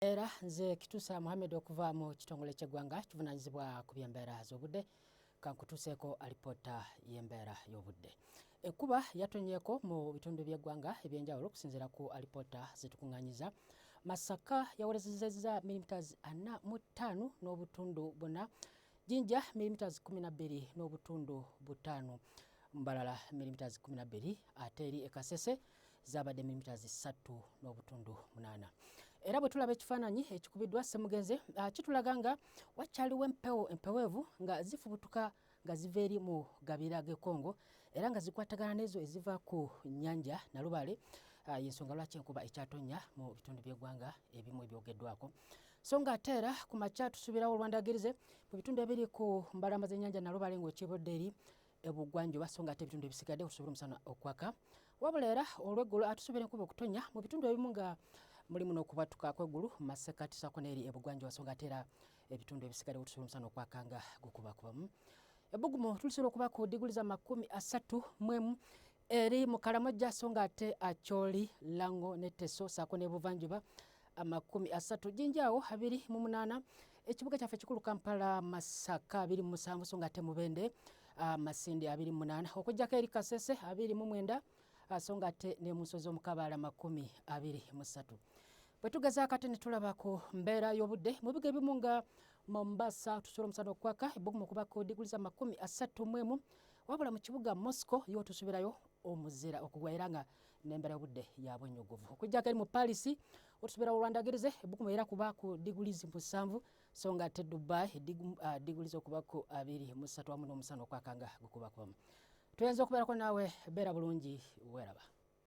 era nze kitusa muhammed okuva mu kitongole ky'eggwanga kivunanyizibwa ku byembeera z'obudde kankutuseeko alipoota y'embeera y'obudde ekuba yatonyeeko mu bitundu by'eggwanga ebyenjawulo okusinziira ku alipoota zetukuŋŋanyiza masaka yawolezezezza milimiters ana mu ttaano n'obutundu buna jinja milimiters kumi na bbiri n'obutundu butaano mbalala milimiters kumi na bbiri ate eri ekasese zabadde milimita zisattu n'obutundu munaana era bwe tulaba ekifaananyi ekikubiddwa ssemugenze ah, kitulaga nga wakyaliwo empewo empeweevu nga zifubutuka nga ziva eri mu gabira g'ekongo era nga zikwatagana n'ezo eziva ku nnyanja nalubaale ah, yensonga lwaki enkuba ekyatonnya mu bitundu by'eggwanga ebimu ebyogeddwako so nga ate era ku makya tusubirawo olwandagirize mu bitundu ebiri ku mbalama z'ennyanja nalubaale ng'okyebodde eri ebugwanjuba so ng'ate ebitundu ebisigadde kusobola omusana okwaka wabula era olweggulo atusuubira enkuba okutonya mu bitundu ebimu nga mulimu n'okubatuka kweggulu mu masekkati saako n'eri ebugwanjuba so ng'ate era ebitundu ebisigadde kutusobola omusana okwaka nga gukubakubamu ebbugumu tulisobola okuba ku diguli za makumi asatu mu emu eri mu Kalamojja so nga ate Acholi, Lango ne Teso saako n'ebuvanjuba amakumi asatu jinja awo abiri mu munaana ekibuga kyaffe kikulu Kampala Masaka abiri mu musanvu so nga ate Mubende ah, Masindi abiri mu munaana okujjako eri Kasese abiri mu mwenda ah, so nga ate ne mu nsozi omukabaala makumi abiri mu ssatu bwe tugezaako ate ne tulaba ku mbeera y'obudde mu bigo ebimu nga Mombasa tusobola omusana okwaka ebbugumu okuba ku diguli za makumi asatu mu emu wabula mu kibuga moscow yo tusubirayo omuzira okugwa era nga nembera obudde yabwenyogovu okujjako eri mu paris otusubira olwandagirize ebbugumu era kuba ku digulizi musanvu so nga ate dubai ah, digulizi okuba ku abiri musatu wamu n'omusana okwakanga gukubakubamu tuyenza okubeerako naawe beera bulungi weraba